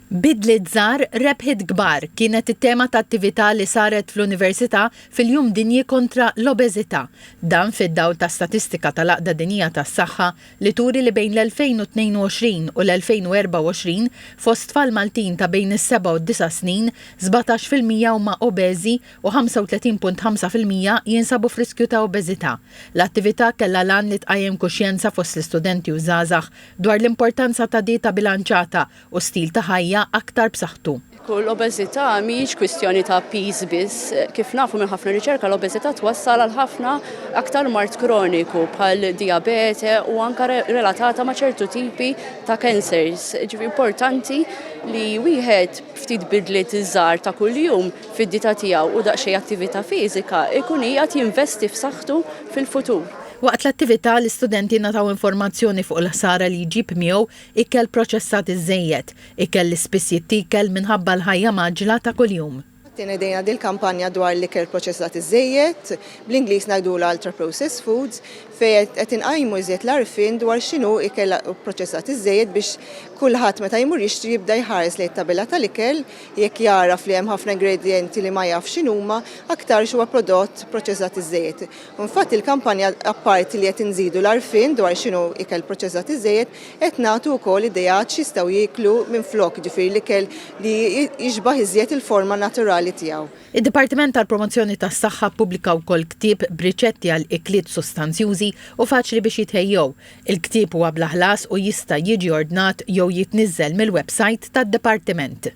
Bidliet żgħar, rebħiet kbar kienet it-tema ta' attività li saret fl-Università fil-Jum Dinji kontra l-Obeżità. Dan fid-dawl ta' statistika tal-Għaqda Dinjija tas-Saħħa li turi li bejn l-2022 u l-2024 fost tfal Maltin ta' bejn is-seba' u d-disa' snin, sbatax fil-mija huma obeżi u 35.5 fil-mija jinsabu f'riskju ta' obeżità. L-attività kellha l-għan li tqajjem kuxjenza fost l-istudenti u żgħażagħ Dwar l-importanza ta' dieta bilanċata u stil ta' ħajja aktar b'saħħtu. L-obeżità mhijiex kwistjoni ta' piż biss. Kif nafu minn ħafna riċerka, l-obeżità twassal għal ħafna aktar mard kroniku bħal dijabete u anke relatata ma' ċertu tipi ta' cancers. Ġifieri importanti li wieħed b'ftit bidliet żgħar ta' kuljum fid-dieta tiegħu u daqsxejn attività fiżika jkun qiegħed jinvesti f'saħħtu fil-futur. Waqt l-attività, l-istudenti ngħataw informazzjoni fuq il-ħsara li jġib miegħu ikel proċessat iżżejjed, ikel li spiss jittiekel minħabba l-ħajja mgħaġġla ta' kuljum. Qatt inedejna dil-kampanja dwar l-ikel proċessat iżżejjed, bl-Ingliż ngħidulha ultra-processed foods, fejn qed inqajmu iżjed l-għarfien dwar x'inhu ikel proċessat iżżejjed biex kulħadd meta jmur jixtri jibda jħares lejn it-tabella tal-ikel, jekk jagħraf li hemm ħafna ingredjenti li ma jafx x'inhuma, aktarx huwa prodott proċessat iżżejjed. Infatti l-kampanja apparti li qed inżidu l-għarfien dwar x'inhu ikel proċessat iżejjed, qed nagħtu wkoll ideat x'jistgħu jieklu minflok, jiġifieri l-ikel li jixbah iżjed il-forma naturali tiegħu. Id-Dipartiment tal-Promozzjoni tas-Saħħa ppubblika wkoll ktieb b'riċetti għal ikliet sustanzjużi u faċli biex jitħejjew. Il-ktieb huwa bla ħlas u jista' jiġi ordnat jew jitniżżel mill-websajt tad-Dipartiment.